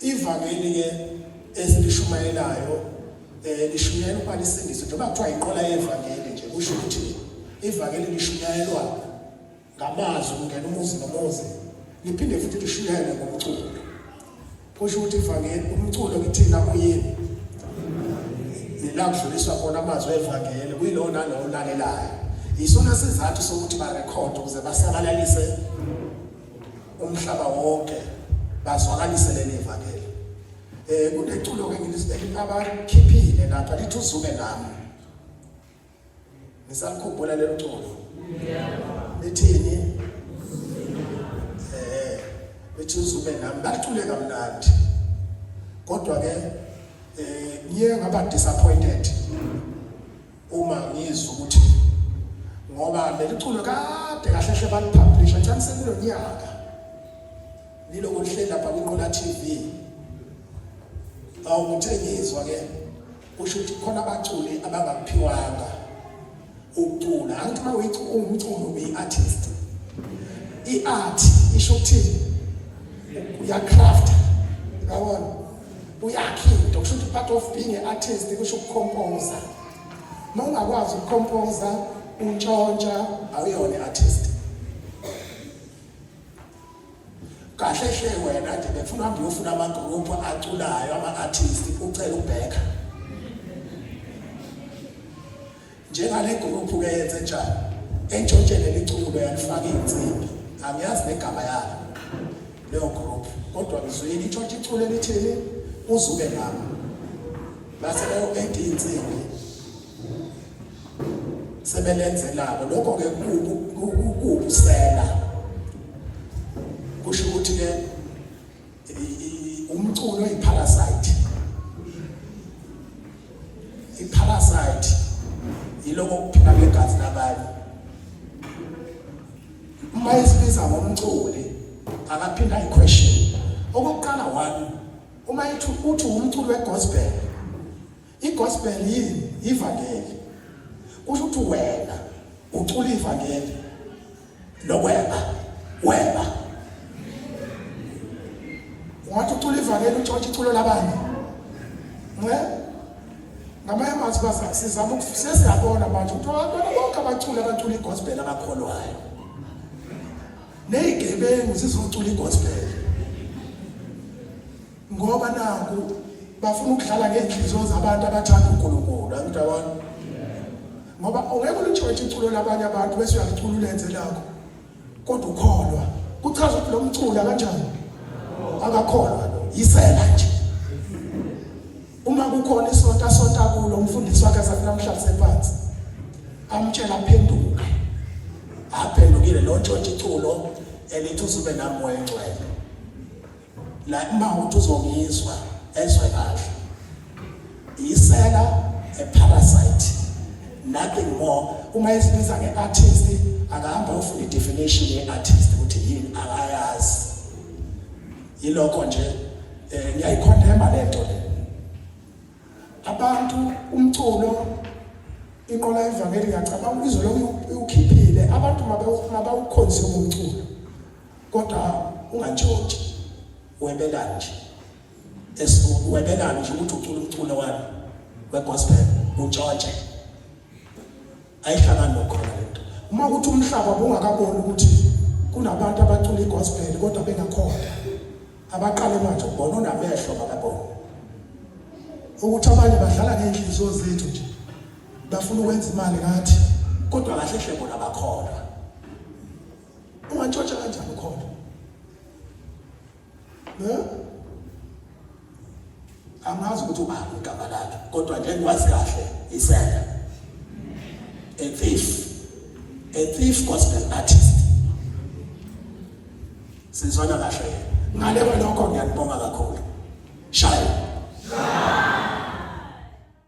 Ivangeli ke esilishumayelayo eh lishumayela ukuba lisindiso njengoba kuthiwa inqola yevangeli nje kusho ukuthi ivangeli lishumayelwa ngamazwi kungena umuzi nomuzi liphinde futhi lishumayelwe ngomculo kusho ukuthi ivangeli umculo kithina uyini nilakudluliswa khona amazwi evangeli kuyilowo nalowo olalelayo yisona sizathu sokuthi barekhode ukuze basabalalise umhlaba wonke bazwakalise leli vangeli eh kuneculo ke ngilisibeka abakhiphile lapha lithi uzume nami ngisalikhumbula lelo culo lithini eh lithi uzume nami balicule kamnandi kodwa ke eh ngiye ngaba disappointed uma ngizwa ukuthi ngoba leli culo kade kahle hle balipublisha njani sekulo nyaka liloko lihleli lapha kwinqola TV awu ngithe ngizwa ke kusho ukuthi khona abaculi abangaphiwanga ukucula angithi uma uyicula umculo uyi-artist i-art isho ukuthini uyacraft ngabona uyakhe into kusho ukuthi part of being an artist kusho ukukhompoza uma ungakwazi ukukhompoza untshontsha awuyona i-artist kahle hle wena nje befuna uhambe uyofuna amagroupu aculayo ama-artist ucela ubheka Njengale gruphu ke yenze njani? Entshontshe leli culo yalifaka insimbi. Angiyazi negama yalo. Leyo group. Kodwa ngizwile itshontshe iculo elithini uzuke ngami. Base leyo AD insimbi. Sebelenzelako lokho ke kuku kukusela. Kusho ukuthi ke umculo iparasite iparasite yiloko kuphila ngegazi labanye uma isibiza ngomculi akaphinda iquestion okokuqala one uma ithi uthi umculi wegospel I-gospel yini? Ivangeli. Kusho ukuthi wena ucula ivangeli lokweba weba. Ungathi ucula ivangeli utshotshe iculo labanye. Nge? Ngamanye amazwi baza sizama ukufisa siyabona manje ukuthi abantwana bonke abaculi abacula i-gospel abakholwayo. Nezigebengu zizocula i-gospel. ngoba naku bafuna ukudlala ngey'nhliziyo zabantu abathanda unkulunkulu angidabani ngoba ungeke ulitshotshe iculo labanye abantu bese uyalicula ulenze lakho kodwa ukholwa kuchaza ukuthi lo mcula kanjani akakholwa yisela nje uma kukhona isonto asonta kulo umfundisi wakhe azathi namhlanje sephansi amtshela aphenduke aphendukile lo ntshontsha iculo elithi uzube nami wengcwele la uma uthi uzongizwa ezwe kahle isela a parasite nothing more uma esibiza nge-artist akahamba ofuna i-definition ye-artist ukuthi yini akayazi yilokho nje um ngiyayikhondemba le nto le abantu umculo inqola evangeli ngiyacabanga izolo iwukhiphile abantu mabawukhonzile umculo kodwa ungatshontshi webelani nje esiwebelani nje ukuthi ucula umculo wami wegospel utshotshe ayihlangani nokhona lento uma ukuthi umhlaba bungakaboni ukuthi kunabantu abacula igospel kodwa bengakhona abaqale manje ukubona unamehlo bakabona ukuthi abanye badlala ngey'nhliziyo zethu nje bafuna ukwenza imali ngathi kodwa kahle hle bona bakhona Ungatshotsha kanjani ukhona? Ne? Angazi ukuthi ubani igama lakhe kodwa nje ngikwazi kahle isela. A thief. A thief gospel artist. Sizwana kahle. Ngale kwalokho ngiyakubonga kakhulu. Shaya. Shaya.